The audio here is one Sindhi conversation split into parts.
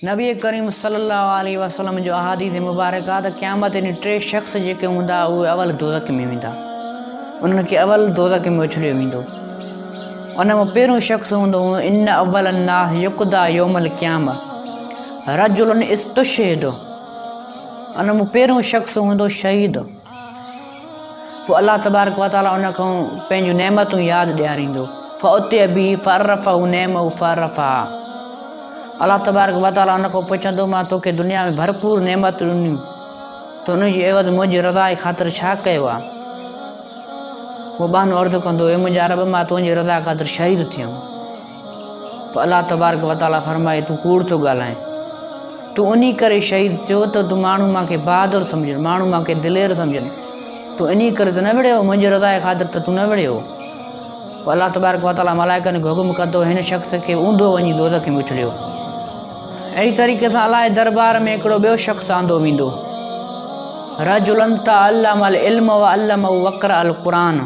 نبي ڪريم صلي الله عليه وسلم جو احاديث مبارڪ آهي ته قيامت ڏينهن ٽي شخص جيڪي هوندا اهي اول دوزخ ۾ ويندا انهن کي اول دوزخ ۾ اڇليو ويندو ان مان پهريون شخص هوندو ان اول الناس يقدا يوم القيامه رجل استشهد ان مان پهريون شخص هوندو شهيد پوء الله تبارڪ وتعاليٰ ان کان پنهنجون نعمتون ياد ڏياريندو فاتي به فعرفه نعمه فعرفها الله تبارڪ وتعاليٰ ان کان پڇندو مان توکي دنيا ۾ ڀرپور نعمت ڏنيون ته ان جي عيوض منهنجي رضا جي خاطر ڇا ڪيو آ هو ٻانهون عرض ڪندو اي منهنجا رب مان تنهنجي رضا خاطر شهيد ٿيم پوء الله تبارڪ و تعالي فرمائي تون ڪوڙ ٿو ڳالهائين تون انهي ڪري شهيد ٿيو ته تون ماڻهو مان کي بهادر سمجهن ماڻهو مان کي دلير سمجهن تون انهي ڪري ته نه وڙهيو منهنجي رضا جي خاطر ته تون نه وڙهيو پوء الله تبارڪ و تعالي ملائڪن کي حڪم ڪندو هن شخص کي اوندو وڃي دوزخ ۾ اڇليو اهڙي طريقي سان الله جي دربار ۾ هڪڙو ٻيو شخص آندو ويندو رجلن تعلم العلم وعلمه وقرأ القرآن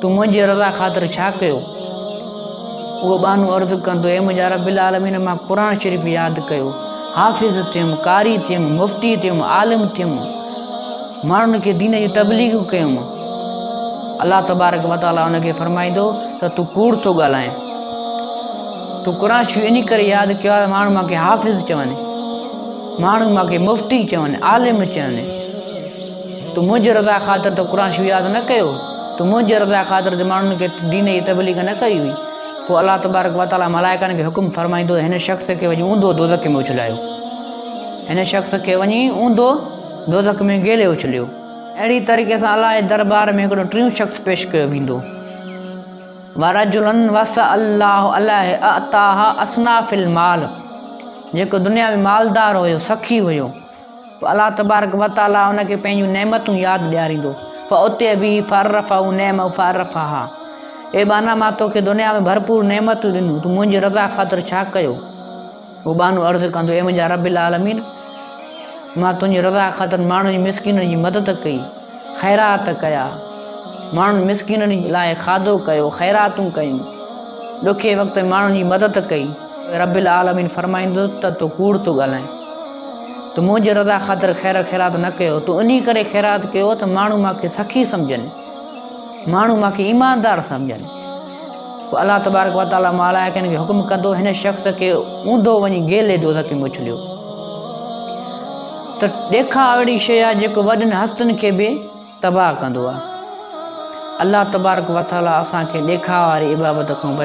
تون منهنجي رضا خاطر ڇا ڪيو؟ اهو ٻانهو عرض ڪندو، اي منهنجا رب العالمين مان قرآن شريف ياد ڪيو، حافظ ٿيم، قاري ٿيم، مفتي ٿيم، عالم ٿيم، ماڻهن کي دين جون تبليغون ڪيم. الله تبارڪ وتعاليٰ ان کي فرمائيندو ته تون ڪوڙ ٿو ڳالهائين. تون قرآن شريف انهي ڪري ياد ڪيو آهي ماڻهو مان کي حافظ چون، ماڻهو مان کي مفتي چون، عالم چون. تو منهنجي رضا خاطر ته قرآن شريف ياد نه ڪيو، تو منهنجي رضا خاطر ته ماڻهن کي دين جي تبليغ نه ڪئي هئي. پوء الله تبارڪ وتعاليٰ ملائڪن کي حڪم فرمائيندو ته هن شخص کي وڃي اونڌو دوزخ ۾ اڇلايو. هن شخص کي وڃي اونڌو دوزخ ۾ گيلي اڇليو. اهڙي طريقي سان الله جي دربار ۾ هڪڙو ٽيون شخص پيش ڪيو ويندو. ورجلا وسع الله عليه اعطاه اصناف المال جيڪو دنيا ۾ مالدار هيو، سخي هيو. پوء الله تبارڪ وتعاليٰ ان کي پنهنجون نعمتون ياد ڏياريندو، فاوتي به فعرفه نعمه فعرفها، اي ٻانها مان توکي دنيا ۾ ڀرپور نعمتون ڏنيون، تون منهنجي رضا خاطر ڇا ڪيو؟ پوء ٻانهو عرض ڪندو، اي منهنجا رب العالمين! مان تنهنجي رضا خاطر ماڻهن جي مسڪينن جي مدد ڪئي، خيرات ڪيا، ماڻهن مسڪينن لاء کاڌو ڪيو، خيراتون ڪيون، ڏکي وقت ۾ ماڻهن جي مدد ڪئي، رب العالمين فرمائيندو ته تون ڪوڙ ٿو ڳالهائين. ته منهنجي رضا خاطر خير خيرات نه ڪيو، تو انهي ڪري خيرات ڪيو ته ماڻهو مان کي سخي سمجهن، ماڻهو مان کي ايماندار سمجهن. پوء الله تبارڪ وتعاليٰ ملائڪن کي حڪم ڪندو هن شخص کي اونڌو وڃي گيلي دوزخ ۾ اڇليو. ته ڏيکاء اهڙي شيء آهي جيڪو وڏن هستين کي به تباهه ڪندو آهي. الله تبارڪ وتعاليٰ اسان کي ڏيکاء واري عبابت کان بچائي.